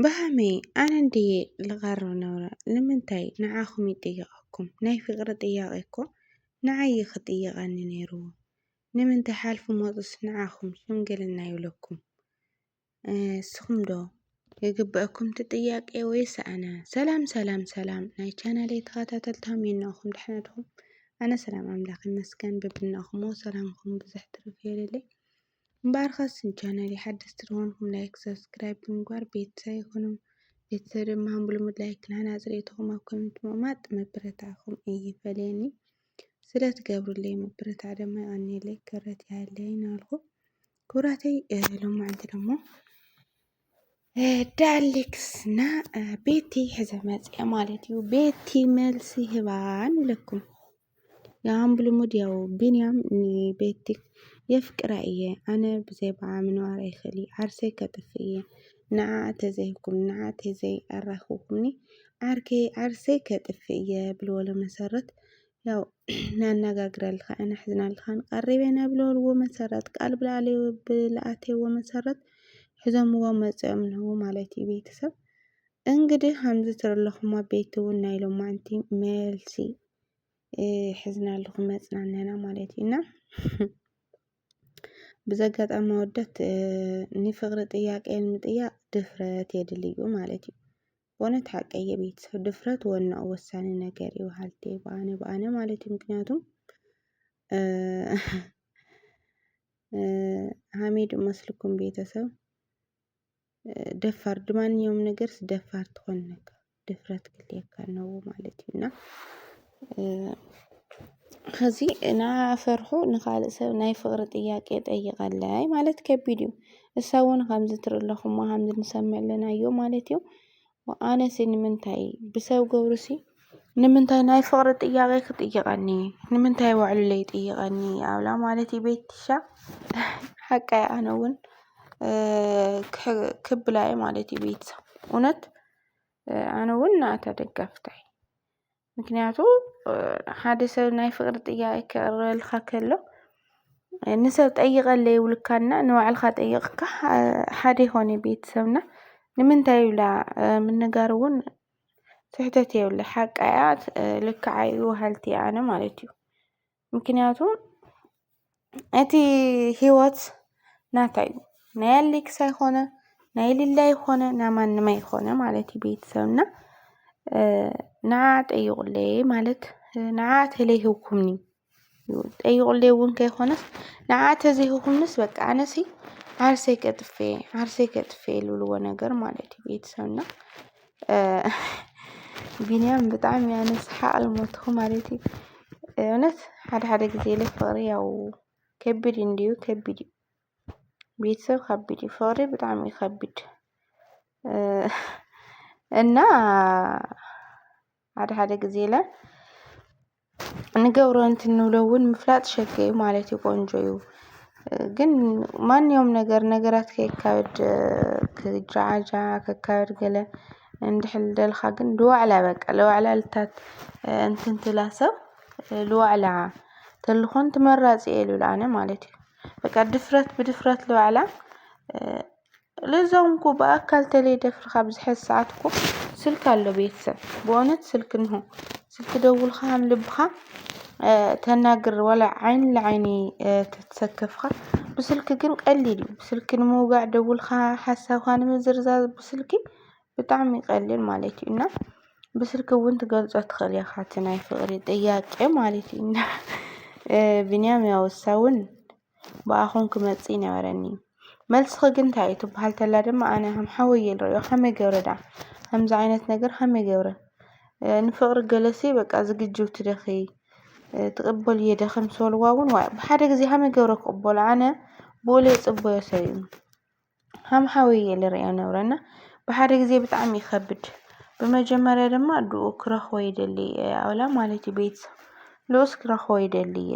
ብሃመይ ኣነ እንድየ ልቐርብ ነብረ ንምንታይ ንዓኹም ይጥይቐኩም ናይ ፍቕሪ ጥያቐ እኮ ንዓይ እዩ ክጥይቐኒ ነይርዎ ንምንታይ ሓልፉ መፁስ ንዓኹም ሽምግልና ይብለኩም ንስኹም ዶ ይግበአኩም እቲ ጥያቄ ወይስ ኣነ ሰላም ሰላም ሰላም ናይ ቻናለይ ተኸታተልቲ ሃመይ እናኹም ደሕና ድኹም ኣነ ሰላም ኣምላኽ ይመስገን በብናኹሞ ሰላምኩም ብዙሕ ትርፍ የለለይ እምበኣርከስ ንቻነለይ ሓደስቲ ዝኾንኩም ላይክ ሰብስክራይብ ብምግባር ቤተሰብ ይኹኑ። ቤተሰብ ድማ ብልሙድ ላይክ ንሃናጺ ርእይቶኹም ኣብ ኮሜንት ምቕማጥ ምብርታዕኩም ኣይፈለየኒ። ስለ ትገብሩለይ ምብርታዕ ድማ የቐንየለይ ክብረት ይሃለይ እናበልኩ ክቡራተይ ሎማዕንቲ ደሞ ዳሌክስ እና ቤቲ ሕዘ መፅአ ማለት እዩ። ቤቲ መልሲ ህባ ንብለኩም ያም ብልሙድ ያው ቢንያም ንቤቲ የፍቅራ እየ ኣነ ብዘይ ባዓ ምንባር ኣይክእል እየ ዓርሰይ ከጥፍ እየ ንዓ ተዘይኩም ንዓ ተዘይ ኣራክብኩምኒ ዓርከይ ዓርሰይ ከጥፍ እየ ብልበሎ መሰረት ያው ነነጋግረልኻን ኣሕዝነልኻን ቀሪበ ኢና ብለልዎ መሰረት ቃል ብለኣተዎ መሰረት ሕዞምዎ መፅኦም ንህቡ ማለት እዩ ቤተሰብ እንግዲህ ከምዚ ትርለኹም ኣቤት እውን ናይ ሎማንቲ መልሲ ሕዝና ኣለኹ መፅናነና ማለት እዩ እና ብዘጋጣሚ ወደት ንፍቅሪ ጥያቄ ንምጥያቅ ድፍረት የድልዩ ማለት እዩ በእውነት ሓቀይ የቤተሰብ ድፍረት ወናው ወሳኒ ነገር እዩ በሃልቲ በኣነ በኣነ ማለት እዩ። ምክንያቱም ሀሚድ መስልኩም ቤተሰብ ደፋር ድማንኛውም ነገርስ ደፋር ትኾን ነካ ድፍረት ክልየካ ነው ማለት እዩ እና ኸዚ እናፈርሑ ንኻልእ ሰብ ናይ ፍቕሪ ጥያቄ ጠይቐለይ ማለት ከቢድ እዩ። እሳ እውን ኸምዚ ትርኢ ኣለኹማ ኸምዚ ንሰምዕ ኣለናዮ ማለት እዩ። ኣነሲ ንምንታይ ብሰብ ገብሩሲ ንምንታይ ናይ ፍቕሪ ጥያቄ ክጥይቐኒ ንምንታይ ባዕሉ ለይጥይቐኒ ኣብላ ማለት እዩ ቤትሻ ሓቃ እያ ኣነ እውን ክብላ እየ ማለት እዩ ቤትሳ እውነት ኣነ እውን ንኣታ ደጋፊታ እየ። ምክንያቱ ሓደ ሰብ ናይ ፍቅሪ ጥያቄ ከቅርበልካ ከሎ ንሰብ ጠይቀለይ ይብሉካ እና ንባዕልካ ጠይቅካ ሓደ ይኮን እዩ ቤተሰብ እና ንምንታይ ኢላ ምንጋር እውን ስሕተት የብሉን ሓቃ እያ ልክዓ እዩ በሃልቲ እየ ኣነ ማለት እዩ። ምክንያቱ እቲ ህይወት ናታ እዩ ናይ ኣሌክስ ኣይኮነ ናይ ሊላ ኣይኮነ ናይ ማንም ኣይኮነ ማለት እዩ ቤተሰብ እና ንዓ ጠይቁለይ ማለት ንዓ ተለይህብኩምኒ ጠይቁለይ እውን ከይኮነስ ንዓ ተዘይህብኩምንስ በቃ ኣነሲ ዓርሰይ ቀጥፌ ዓርሰይ ከጥፌ ልብልዎ ነገር ማለት እዩ ቤተሰብ እና ቢንያም ብጣዕሚ ኣነ ስሓቕ ልሞትኹ ማለት እዩ እውነት ሓደ ሓደ ጊዜ ኢለ ፍቕሪ ያው ከቢድ እንድዩ ከቢድ እዩ ቤተሰብ ከቢድ እዩ ፍቕሪ ብጣዕሚ እዩ ከቢድ እና ሓደ ሓደ ግዜ ኢለ ንገብሮ እንትንብሎ እውን ምፍላጥ ሸገ እዩ ማለት እዩ ቆንጆ እዩ። ግን ማንኛውም ነገር ነገራት ከይካበድ ክጃዓጃ ከካበድ ገለ እንድሕር ደልካ ግን ልዋዕላ በቃ ልዋዕላ ልታት እንትን ትብላ ሰብ ልዋዕላ ተልኾን ትመራፂ እየ ልብል ኣነ ማለት እዩ። በቃ ድፍረት ብድፍረት ልዋዕላ ልዛውን እኮ ብኣካል ተለይ ደፍርካ ብዝሐዝ ሰዓት እኮ ስልክ ኣሎ ቤተሰብ ብእውነት ስልክ እንሆ ስልክ ደውልካ ከም ልብኻ ተናግር ዋላ ዓይኒ ንዓይኒ ተትሰከፍካ ብስልኪ ግን ቀሊል እዩ ብስልኪ ንምውጋዕ ደውልካ ሓሳብካ ንምዝርዛር ብስልኪ ብጣዕሚ ይቀልል ማለት እዩ እና ብስልኪ እውን ትገልፆ ትኽእል ኢኻ እቲ ናይ ፍቅሪ ጥያቄ ማለት እዩ እና ብንያም ያው እሳ እውን ብኣኹም ክመጽእ ይነበረኒ። መልስኺ ግን እንታይ እዩ ትብሃል ተላ ድማ ኣነ ከም ሓወይ እየ ዝርእዮ ከመይ ገብረ ድኣ ከምዚ ዓይነት ነገር ከመይ ገብረ ንፍቕሪ ገለሲ በቃ ዝግጅውቲ ደኺ ትቕበልዮ ደኺ ምስ በልዋ እውን ዋእ ብሓደ ግዜ ከመይ ገብረ ክቕበሎ ኣነ ብኡ ለይጽበዮ ሰብ እዩ ከም ሓወይ እየ ልርእዮ ነብረ እና ብሓደ ግዜ ብጣዕሚ ይኸብድ። ብመጀመርያ ድማ ኣዱኡ ክረኽቦ ይደሊ ኣውላ ማለት እዩ ቤተሰብ ንኡስ ክረኽቦ ይደሊ እየ።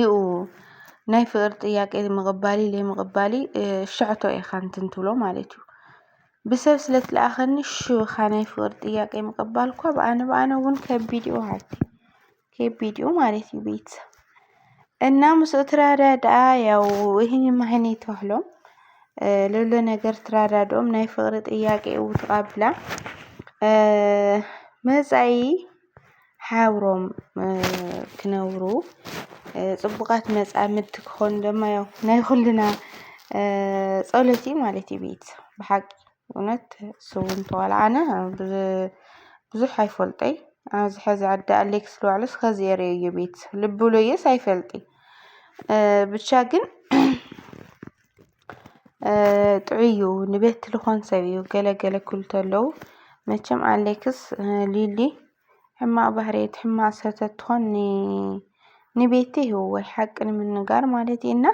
ዩ ናይ ፍቅሪ ጥያቄ ምቕባልይ ለይምቕባልይ ሸዕቶ ኢኻ እንትን ትብሎ ማለት እዩ። ብሰብ ስለ ትለኣኸኒ ሽው ኢኻ ናይ ፍቅሪ ጥያቄ ምቕባል እኳ ብኣነ ብኣነ እውን ከቢድ እዩ በሃልቲ ከቢድ እዩ ማለት እዩ ቤት እና ምስኡ ትረዳድኣ ያው ይህን ማህን ይተህሎም ሌሎ ነገር ትረዳድኦም ናይ ፍቅሪ ጥያቄ እው ትቐብላ መጻኢ ሓብሮም ክነብሩ ጽቡቓት መጻምድቲ ክኾኑ ድማ ያው ናይ ኹልና ጸሎት እዩ ማለት እዩ ቤት ብሓቂ እውነት ስብ እንተ ዋላ ኣነ ብዙሕ ኣይፈልጦይ ኣብዚ ሐዚ ኣደ ኣለኪ ስለ በሃለይ ኸዚ እየ ርእየዮ ቤት ልቢ ብለዮስ ኣይፈልጥ እየ ብቻ ግን ጥዑይ እዩ ንቤት ልኾን ሰብ እዩ ገለ ገለ ክብሉ ተለዉ መቸም ኣለክስ ሊሊ ሕማቅ ባህርየት ሕማቅ ሰብ ተትኾን ን ንቤቲ ህወ ሓቂ ንምንጋር ማለት እዩ እና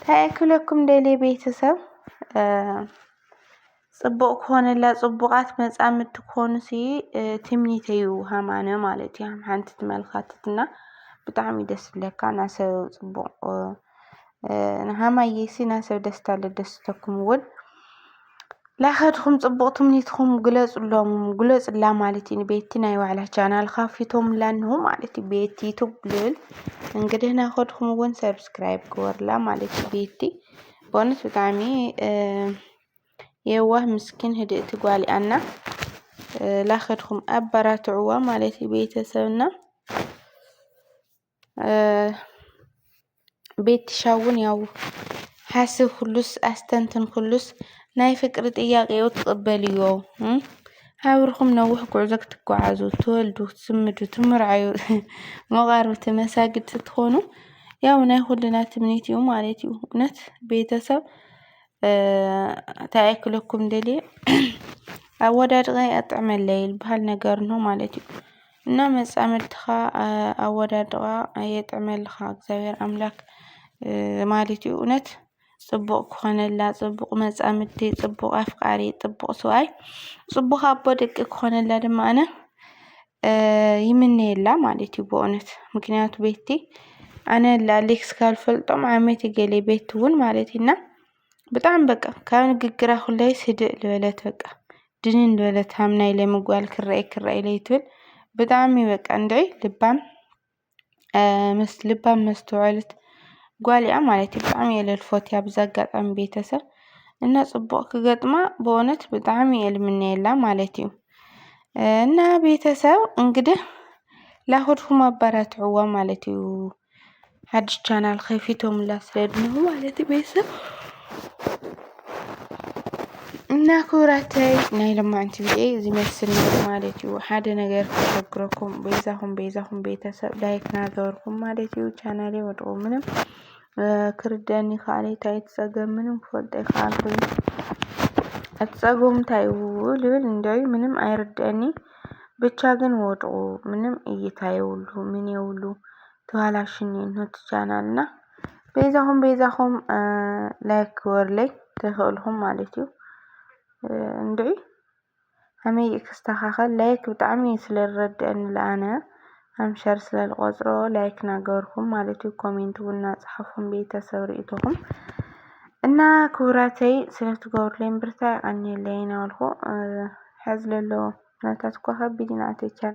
ታይ ክብለኩም ደልየ ቤተሰብ ፅቡቅ ክኾነላ ፅቡቃት መፃምድቲ ክኾኑ ሲ ትምኒተ እዩ ሃማነ ማለት እዩ ሃም ሓንቲ ትመልካትት እና ብጣዕሚ እዩ ደስ ዝብለካ እና ሰብ ፅቡቅ ንሃማዬ ሲ እና ሰብ ደስታ ለደስተኩም እውን ላኸድኩም ጽቡቕ ትምኒትኩም ግለጽሎም ግለጽላ ማለት እዩ። ቤቲ ናይ ዋዕላ ቻናል ካፊቶምላ እንሆ ማለት እዩ። ቤቲ ዩቱብ ልል እንግዲህ ናኸድኩም እውን ሰብስክራይብ ግበርላ ማለት እዩ። ቤቲ በእውነት ብጣዕሚ የዋህ ምስኪን ህድእቲ ጓል እያ እና ላኸድኩም ኣበራትዕዋ ማለት እዩ ቤተሰብና ቤትሻውን ያው ሓስብ ኩሉስ ኣስተንትን ኩሉስ ናይ ፍቅሪ ጥያቄኡ ትቕበልዮ ኣብርኹም ነዊሕ ጉዕዞ ክትጓዓዙ ትወልዱ ክትስምዱ ትምርዓዩ መቓርብቲ መሳግድ ትኾኑ ያው ናይ ኩልና ትምኒት እዩ ማለት እዩ። እውነት ቤተሰብ ታይ ክለኩም ደልየ ኣወዳድቐ ኣጥዕመለይ ልባሃል ነገር ነው ማለት እዩ። እና መጻምድትኻ ኣወዳድቓ የጥዕመልኻ እግዚኣብሔር ኣምላክ ማለት እዩ። እውነት ጽቡቕ ክኾነላ ጽቡቕ መጻምድቲ ጽቡቕ ኣፍቃሪ ጽቡቕ ሰብኣይ ጽቡቕ ኣቦ ደቂ ክኾነላ ድማ ኣነ ይምነየላ ማለት እዩ። ብእውነት ምክንያቱ ቤቲ ኣነ ላዕሌክ ስካልፈልጦም ዓመት ገሌ ቤቲ እውን ማለት እዩ እና ብጣዕሚ በቃ ካብ ንግግራ ኩለይስ ህድእ ልበለት በቃ ድንን ልበለት ሃም ናይ ሎሚ ጓል ክረኣይ ክረኣይ ለይትብል ብጣዕሚ በቃ እንድዒ ልባም ምስ ልባም መስተዉዐልት ጓል እያ ማለት እዩ ብጣዕሚ እየ ለልፎትያ ብዛ ኣጋጣሚ ቤተሰብ እና ፅቡቅ ክገጥማ በእዉነት ብጣዕሚ እየ ልምነየላ ማለት እዩ። እና ቤተሰብ እንግድህ ላኹድኩም ኣባራትዕዋ ማለት እዩ። ሓድሽ ቻናል ከፊቶምላ ስለ ድንሁ ማለት እዩ ቤተሰብ እና ክብራተይ ናይ ለማዕንቲ ቪዲዮ ዝመስል ማለት እዩ። ሓደ ነገር ከሸግረኩም ቤዛኹም ቤዛኹም ቤተሰብ ላይክ ናገበርኩም ማለት እዩ። ቻናሌ ወድቁ ምንም ክርደኒ ካለ ታይ ትፀገም ምንም ክፈልጠ ይከኣልኩ ኣትፀገሙ እንታይ እዩ ልብል እንደዩ ምንም ኣይርደኒ ብቻ ግን ወድቁ ምንም እይታ የብሉ ምን የብሉ ተባላሽን ነቲ ቻናል እና ቤዛኹም ቤዛኹም ላይክ ክበርለይ ተኽእልኹም ማለት እዩ እንድዒ ሃመይ ክስተኻኸል ላይክ ብጣዕሚ ስለ ዝረድአኒ ለኣነ ሃም ሸር ስለ ልቆጽሮ ላይክ ናገበርኩም ማለት እዩ ኮሜንት እውን ናጽሓፉን ቤተሰብ ርእቶኹም እና ክቡራተይ ስለ ትገብሩለይ ብርታ ይቀኒየለይ ናበልኩ ሕዚ ለሎ ኩነታት እኳ ከቢድ ኢና ተቻል